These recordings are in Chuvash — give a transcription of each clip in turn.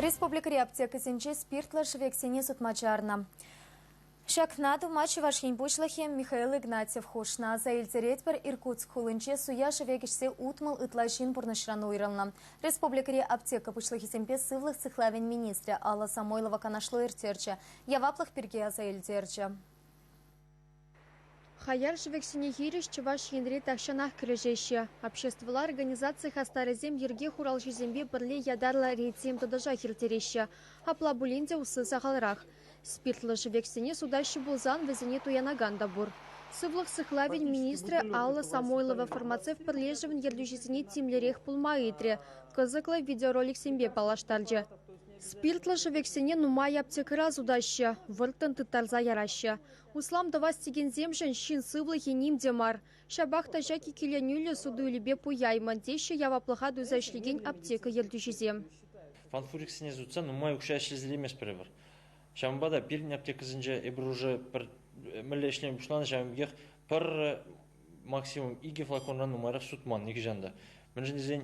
Республикӑри аптекӑсенче спиртлӑ шӗвексене сутма чарнӑ. Ҫакна тума Чӑваш Ен Пуҫлӑхӗ Михаил Игнатьев хушнӑ. Аса илтеретпӗр, Иркутск хулинче суя шӗвек ӗҫсе утмӑл ытла ҫын пурнӑҫран уйрӑлнӑ. Республикӑри аптека пуҫлӑхӗсемпе сывлӑх сыхлавӗн министрӗ Алла Самойлова канашлу ирттерчӗ, яваплӑх пирки аса илтерчӗ. Хаяр шӗвексене хирӗҫ Чӑваш Енре тахҫанах кӗрешеҫҫӗ. Обществӑлла организаци хастарӗсем йӗрке хуралҫисемпе пӗрле ятарлӑ рейдсем тӑтӑшах ирттереҫҫӗ. Апла пулин те усси сахалрах. Спиртлӑ шӗвексене сутаҫҫӗ пулсан, вӗсене туянакан та пур. Сывлӑх сыхлавӗн министрӗ Алла Самойлова фармацевт пӗрлешӗвӗн ертӳҫисене тимлӗрех пулма ыйтрӗ, кӑсӑклӑ видеороликсемпе паллаштарчӗ. Спиртлӑ шӗвексене нумай аптекӑра сутаҫҫӗ, вӑрттӑн тыттарса яраҫҫӗ. Услам тӑвас текенсемшӗн ҫын сывлӑхӗ ним те мар. Ҫапах та ҫак иккӗленӳллӗ суту-илӳпе пуяймӑн, теҫҫӗ яваплӑха туйса ӗҫлекен аптека ертӳҫисем. Фалфуриксене сутса нумай укҫа ӗҫлесе илместпӗр эпир. Ҫавӑнпа та пирӗн аптекӑсенче эпир уже пӗр мӗнле ӗҫлеме пуҫланӑ ҫавӑн пекех пӗр максимум икӗ флаконран нумайрах сутман нихӑҫан та. Мӗншӗн тесен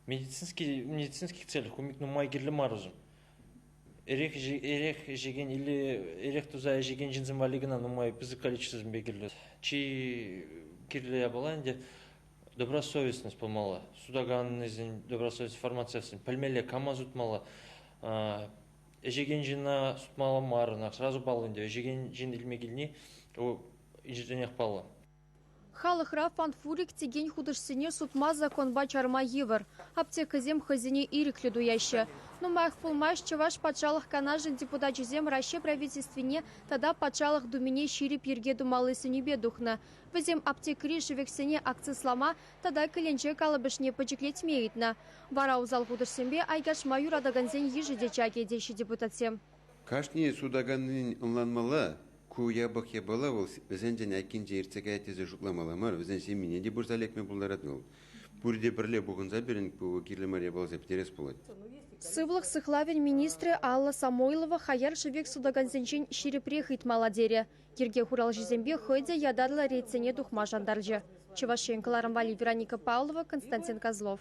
медицинский медицинских целях умик нумай кирлӗ мар усӑм. Эрех туса ӗҫекен ҫынсем валли кӑна нумай пысӑк количествӑсемпе кирлӗ. Чи кирлӗ япала ӗнтӗ добросовестность пулмалла. Сутаканнисен добросовестность формациясен пӗлмелле кама сутмалла. Ӗҫекен ҫына сутмалла маррӑн, сразу паллӑ ӗнтӗ. Ӗҫекен ҫын илме килни вӑл инҫетренех паллӑ. Халӑхра фанфурик текен хутӑшсене сутма законпа чарма йывӑр. Аптекӑсем хӑйсене ирӗклӗ туяҫҫӗ. Нумаях пулмасть Чӑваш Патшалӑх Канашӗн депутачӗсем Раҫҫей Правительствине тата Патшалӑх Думине ҫирӗп йӗрке тумалли сӗнӳпе тухнӑ. Вӗсем аптекӑри шӗвексене акцислама тата кӗленче калӑпӑшне пӗчӗклетме ыйтнӑ. Вара усал хутӑшсемпе айкашма юратакансен йышӗ те чакӗ, теҫҫӗ депутатсем. Кашни сутаканнин ӑнланмалла, Ку япӑх япала вӑл вӗсенчен айккинче иртсе каять тесе шутламалла мар, вӗсен ҫемйине те пырса лекме пултарать вӑл. Пурте пӗрле пухӑнса пирӗн ку кирлӗ мар япаласем пӗтерес пулать. Сывлӑх сыхлавӗн министрӗ Алла Самойлова хаяр шӗвек сутакансенчен ҫирӗпрех ыйтмалла терӗ. Йӗрке хуралҫисемпе хӑй те ятарлӑ ретсене тухма шантарчӗ. Чӑваш Ен кӑларӑм валли Вероника Павлова, Константин Козлов.